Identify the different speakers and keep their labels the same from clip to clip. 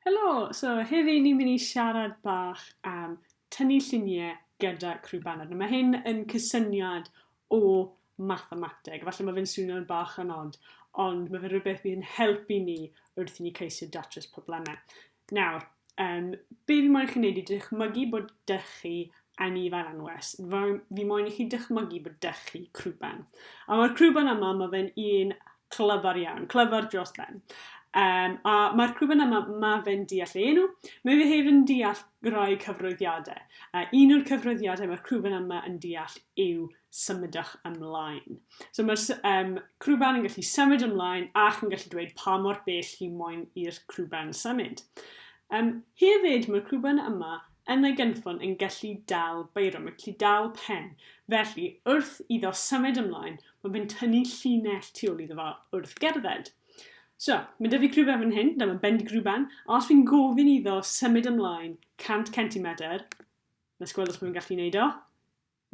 Speaker 1: Helo! So heddi ni'n mynd i siarad bach am tynnu llunie gyda crwbanod. Nawr ma' hyn yn cysyniad o mathemateg, falle ma' fe'n swnio'n bach yn od, ond ma' fe'n rhywbeth fydd yn helpu ni wrth i ni ceisio datrys probleme. Nawr, um, be' fi moyn i chi neud i dychmygu bod 'dych chi a ni fel anwes. Fi moyn i chi dychmygu bod dech chi crwben. A mae'r crwben yma, mae fe'n un clyfar iawn, clyfar dros ben. Um, a mae'r crwben yma, mae fe'n deall ei enw, mae fe hefyd yn deall rhai cyfroeddiadau. A un o'r cyfroeddiadau mae'r crwben yma yn deall yw symudach ymlaen. So mae'r um, crwben yn gallu symud ymlaen ac yn gallu dweud pa mor bell hi moyn i'r crwben symud. Um, hefyd, mae'r crwben yma yn ei gynffon yn gallu dal beiro, mae'n gallu dal pen. Felly, wrth iddo symud ymlaen, mae fe'n tynnu llinell tu ôl iddo fo wrth gerdded. So, mae dyfu grwben fan hyn, dyma bend grwben, a os fi'n gofyn iddo symud ymlaen 100 cm, nes gweld os mae'n gallu gwneud o.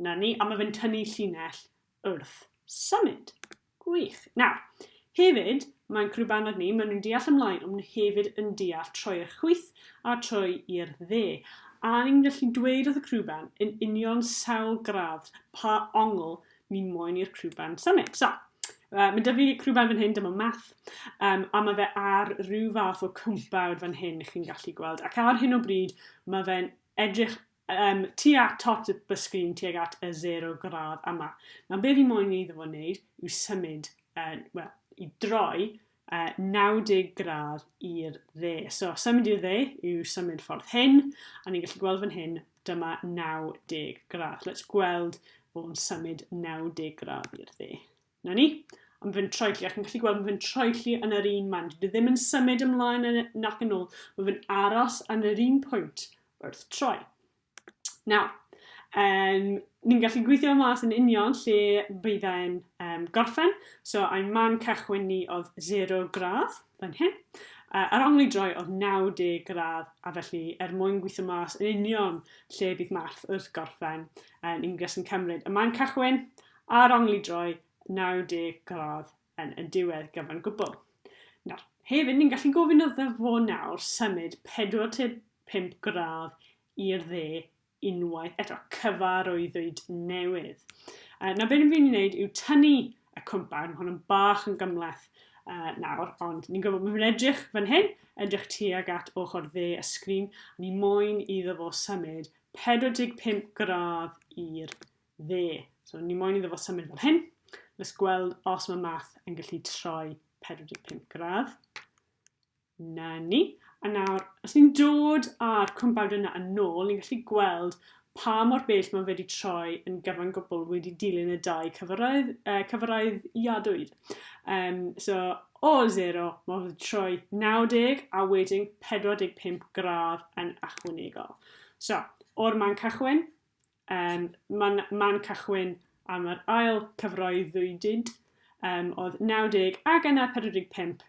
Speaker 1: 'Na ni, a mae fe'n tynnu llinell wrth symud. Gwych. Nawr, hefyd, mae'n crw baned ni, maen nhw'n deall ymlaen, ond nhw hefyd yn deall troi i'r chwith a troi i'r dde. A ni'n gallu dweud wrth y crw band yn union sawl gradd pa ongl ni moyn i'r crw band symud. So, uh, mae dyfu crw band fan hyn, dyma math, um, a mae fe ar rhyw fath o cwmpawd fan hyn, chi'n gallu gweld. Ac ar hyn o bryd, mae fe'n edrych Yym, tua tot fy sgrin tuag at y zero gradd yma. Nawr, be fi moyn iddo fo wneud yw symud, uh, wel, i droi uh, 90 gradd i'r dde. So, symud i'r dde yw symud ffordd hyn, a ni'n gallu gweld fan hyn, dyma 90 gradd. Let's gweld fo'n symud 90 gradd i'r dde. 'Na ni. A mae fe'n troelli, a chi'n gallu gweld mae fe'n troelli yn yr un man. Dwi ddim yn symud ymlaen yn, nac yn ôl. Mae fe'n aros yn yr un pwynt wrth troi. Nawr, um, ni'n gallu gweithio mas yn union lle bydd e'n um, gorffen. So, ein man cychwyn ni oedd 0 gradd fan hyn. Uh, a'r ongl i droi oedd 90 gradd, a felly er mwyn gweithio mas yn union lle bydd math wrth gorffen, uh, ni'n gallu cymryd y man cychwyn Ar ongl i droi 90 gradd yn y diwedd gyfan gwbl. Nawr, hefyd ni'n gallu gofyn iddo fo nawr symud 45 gradd i'r dde unwaith eto, cyfarwyddwyd newydd. Uh, na beth ni'n mynd i wneud yw tynnu y cwmpan, hwn yn bach yn gymleth uh, nawr, ond ni'n gwybod bod fi'n edrych fan hyn, edrych tuag at ochr dde y sgrin, a ni moyn iddo fo symud 45 gradd i'r dde. So ni moyn iddo fo symud fel hyn. Let's gweld os mae math yn gallu troi 45 gradd. Na ni. A nawr, os ni'n dod â'r cwmpawd yna yn nôl, ni'n gallu gweld pa mor bell mae wedi troi yn gyfan gwbl wedi dilyn y dau cyfyrraedd, uh, cyfyrraedd iadwyd. Um, so, o 0, mae wedi troi 90 a wedyn 45 gradd yn achwanegol. So, o'r man cychwyn, Um, Mae'n man cychwyn am yr ail cyfroi ddwydyd, um, oedd 90 ac yna 45,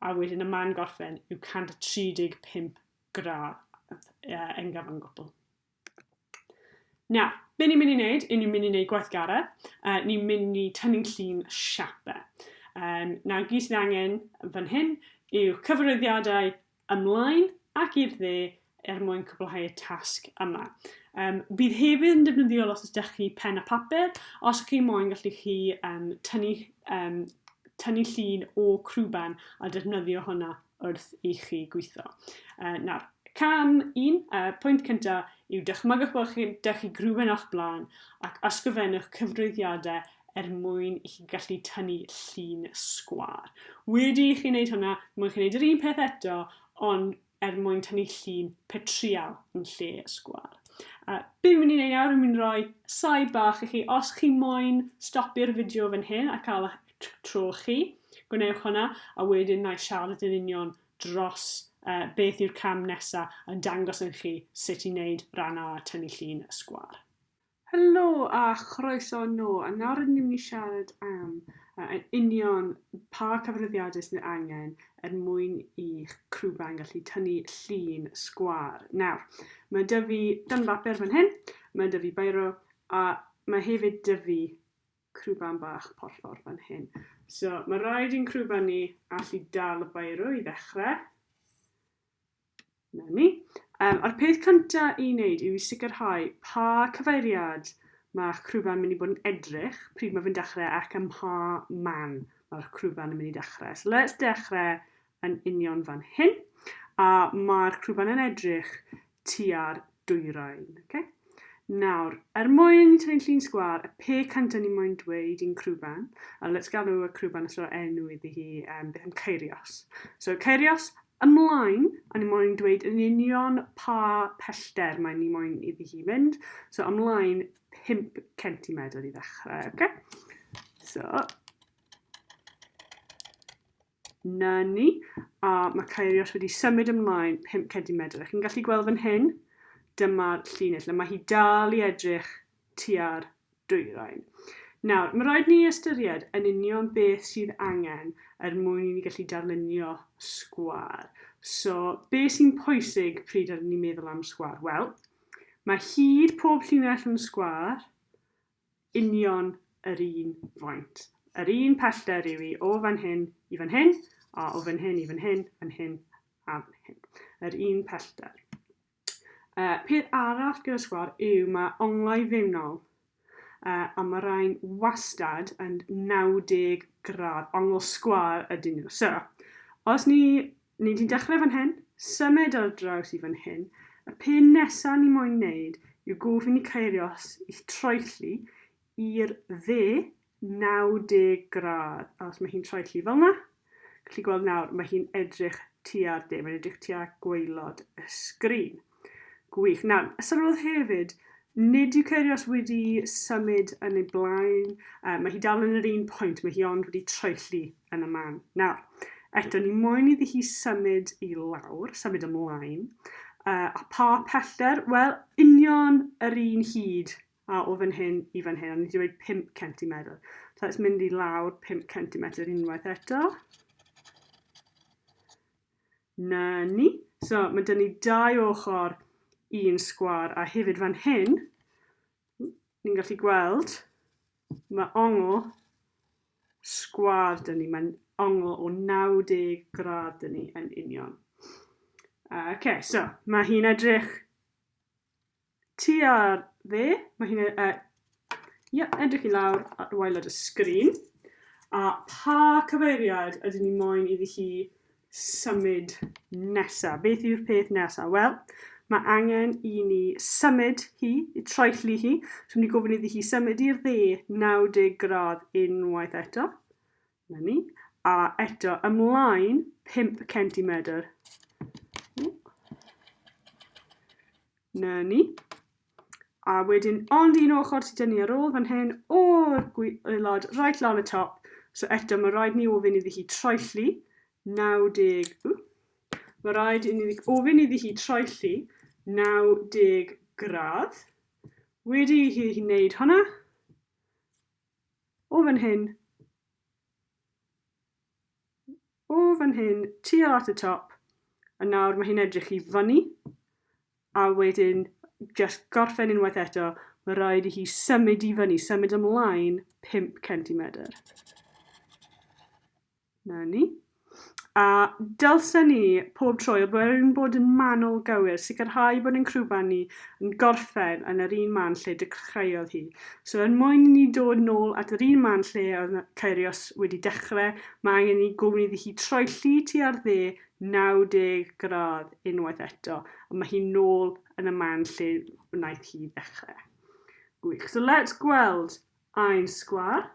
Speaker 1: a wedyn y man gorffen yw 135 gradd uh, yn gyfan gwbl. Nawr, be ni'n mynd i wneud, i ni'n mynd i wneud gweithgaredd, uh, ni'n mynd i tynnu'n llun siapau. Um, nawr, gyd sydd angen fan hyn yw cyfarwyddiadau ymlaen ac i'r dde er mwyn cwblhau'r tasg yma. Um, bydd hefyd yn defnyddiol os ydych chi pen a papur, os ydych chi moyn gallu chi um, tynnu, um, tynnu llun o crwban a defnyddio hwnna wrth i chi gweithio. Uh, nawr, cam un, uh, pwynt cyntaf yw dychmygwch bod chi, dych chi grwben o'ch blaen ac ysgrifennwch cyfrwyddiadau er mwyn i chi gallu tynnu llun sgwâr. Wedi i chi wneud hwnna, mwyn chi'n wneud yr un peth eto, ond er mwyn tynnu llun petrial yn lle y sgwâr. Uh, be fi'n mynd i wneud nawr, fi'n mynd i roi saib bach i chi. Os chi moyn stopio'r fideo fan hyn a cael eich tro chi, gwnewch hwnna, a wedyn na i siarad yn union dros uh, beth yw'r cam nesaf a dangos yn chi sut i wneud rhan A tynnu llun y sgwar. Helo a chroeso nôl, a nawr rydyn ni'n mynd i siarad am uh, yn union pa cyfarwyddiadau sy'n ei angen er mwyn i'ch crwben gallu tynnu llun sgwar. Nawr, mae dy fi dan bapur fan hyn, mae dy fi bairo, a mae hefyd dy fi crwben bach porffor fan hyn. So, mae rhaid i'n crwben ni allu dal y bairo i ddechrau. 'na ni. Yym, a'r peth cynta i wneud yw i sicrhau pa cyfeiriad mae'ch crwban mynd i bod yn edrych pryd mae fe'n dechrau ac ym mha man mae'r crwban yn mynd i dechrau. So let's dechrau yn union fan hyn. A mae'r crwban yn edrych tua'r dwyrain. Oce? Nawr, er mwyn tynnu llun sgwâr, y pe cant o'n i moyn dweud i'n crwban, a let's galw y crwban os ro'r enw iddi hi, um, beth am Ceirios? So, Ceirios, ymlaen, a ni moyn dweud yn union pa pellter mae ni moyn iddi hi mynd. So, ymlaen 5 centimetr i ddechrau, oce? Okay? So, 'na ni, a ma' Kairios wedi symud ymlaen pump cedimedr, a chi'n gallu gweld fan hyn, dyma'r llinell, a ma' hi dal i edrych tua'r dwyrain. Nawr, ma' raid ni ystyried yn union beth sydd angen er mwyn i ni gallu darlunio sgwâr. So, be sy'n pwysig pryd rydyn ni'n meddwl am sgwâr? Wel, mae hyd pob llinell yn sgwâr, union yr un faint. Yr un pellter yw i o fan hyn i fan hyn, a o fan hyn i fan hyn, fan hyn a fan hyn. Yr un pellter. Uh, peth arall gyda sgwar yw mae onglau fewnol uh, a mae rhain wastad yn 90 gradd, ongl sgwar ydyn nhw. So, os ni Ni di'n dechrau fan hyn, symud ar draws i fan hyn, y pun nesa ni moyn neud yw gofyn i Kairos i'th troelli i'r dde 90 gradd, a os mae hi'n troelli fel na, gallu gweld nawr, mae hi'n edrych tua'r de, mae'n edrych tua gwaelod y sgrin. Gwych. Nawr, sylwodd hefyd, nid yw Kyrgios wedi symud yn ei blaen, uh, mae hi dal yn yr un pwynt, mae hi ond wedi troelli yn y man. Nawr, eto, ni moyn iddi hi symud i lawr, symud ymlaen, uh, a pa pellder, wel, union yr un hyd a o fan hyn i fan hyn, ond ni wedi dweud 5 cm. So, let's mynd i lawr 5 cm unwaith eto. 'Na ni. So, ma' 'da ni dau ochr i'n sgwâr, a hefyd fan hyn, ni'n gallu gweld, mae ongl sgwâr 'da ni. Mae'n ongl o 90 gradd 'da ni yn union. Oce, so, mae hi'n edrych Ti ar dde, mae hi'n e- e- ie, edrych i lawr ar waelod y sgrin. A pa cyfeiriad ydyn ni moyn iddi hi symud nesa? Beth yw'r peth nesa? Wel, mae angen i ni symud hi, i troelli hi. So, ni gofyn iddi hi symud i'r dde 90 gradd unwaith eto. 'Na ni. A eto, ymlaen 5 centimetr. 'Na ni. A wedyn, ond un ochr sydd dynnu ar ôl fan hyn, o'r gwaelod, right lan y top. So eto, mae rhaid ni ofyn iddi hi troelli 90... Ww, Mae rhaid i ni ofyn iddi hi troelli 90 gradd. Wedi i hi wneud hwnna, O fan hyn. O fan hyn, tuol at y top. A nawr mae hi'n edrych i fyny. A wedyn, just gorffen unwaith eto, mae rhaid i hi symud i fyny, symud ymlaen 5 cm. 'Na ni. A dylsen ni, pob tro, er mwyn bod yn manwl gywir, sicrhau bod ein crwban ni yn gorffen yn yr un man lle dechreuodd hi. So, er mwyn i ni dod nôl at yr un man lle oedd Ceirios wedi dechrau, mae angen i ni gofyn iddi hi troelli tua'r dde 90 gradd unwaith eto, a mae hi nôl yn y man lle wnaeth hi ddechrau. Gwych. So let's gweld ein sgwâr.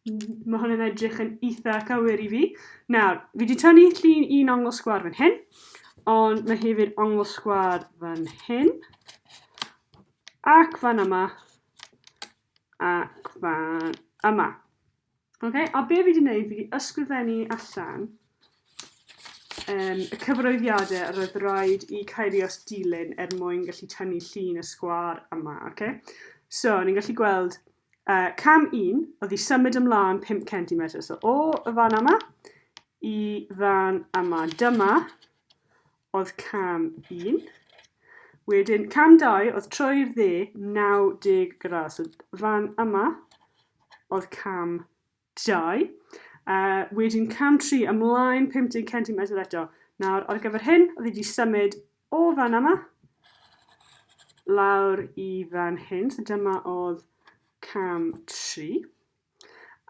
Speaker 1: Mae hwn yn edrych yn eitha cywir i fi. Nawr, fi wedi tynnu llun un ongl sgwar fan hyn, ond mae hefyd ongl sgwar fan hyn, ac fan yma, ac fan yma. Okay? A be fi wedi gwneud, fi wedi ysgrifennu allan um, y cyfroeddiadau yr oedd rhaid i Kyrios dilyn er mwyn gallu tynnu llun y sgwar yma. Okay? So, ni'n gallu gweld A cam un oedd i symud ymlaen 5 centimetr. So o y fan yma i fan yma. Dyma oedd cam un. Wedyn cam dau oedd troi'r dde 90 gradd. So fan yma oedd cam Dau. A wedyn cam tri ymlaen 50 centimetr eto. Nawr, ar gyfer hyn, oedd wedi symud o fan yma lawr i fan hyn. So dyma oedd cam tri.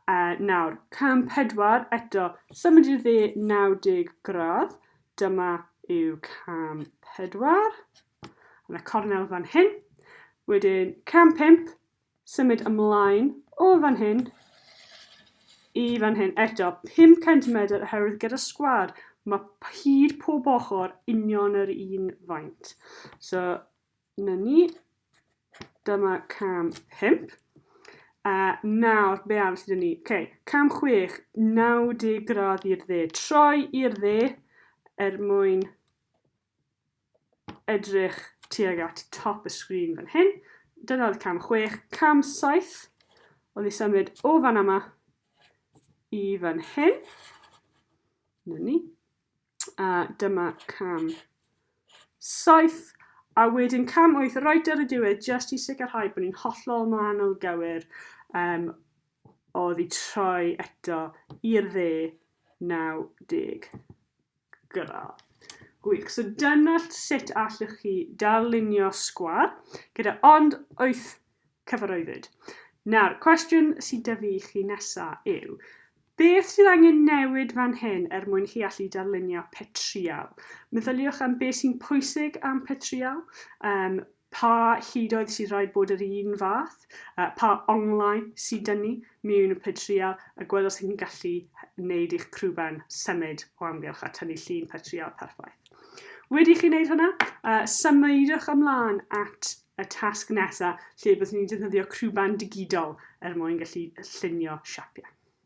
Speaker 1: A nawr, cam pedwar eto, symud i'r dde 90 gradd. Dyma yw cam pedwar. Yna cornel fan hyn. Wedyn, cam pimp, symud ymlaen o fan hyn i fan hyn. Eto, 5 centimetr oherwydd gyda sgwâr mae hyd pob ochr union yr un faint. So, na ni. Dyma cam 5. A nawr, be arall sydd ni? Ok, cam 6, 90 gradd i'r dde. Troi i'r dde er mwyn edrych tuag at top y sgrin fan hyn. Dyna oedd cam 6. Cam 7 oedd i symud o fan yma i fan hyn. Dyna ni. A dyma cam 7. A wedyn cam 8 right ar y diwedd just i sicrhau bod ni'n hollol manol gywir um, oedd i troi eto i'r dde 90. gyda. Gwych. So dyna sut allwch chi darlunio sgwâr gyda ond wyth cyfarwyddyd. Nawr, cwestiwn sydd dy fi i chi nesaf yw, Beth sydd angen newid fan hyn er mwyn chi allu darlunio petrial? Meddyliwch am beth sy'n pwysig am petrial, um, Pa hudoedd sydd rhaid bod yr un fath? Pa onglau sy'n dynnu miwn y petryal a gwelwch sy'n gallu wneud i'ch crwben symud o amgylch a tynnu llun petryal perffaith? Wedi i chi wneud hwnna, symudwch ymlaen at y tasg nesaf lle byddwn ni'n defnyddio crwben digidol er mwyn gallu llunio siapiau.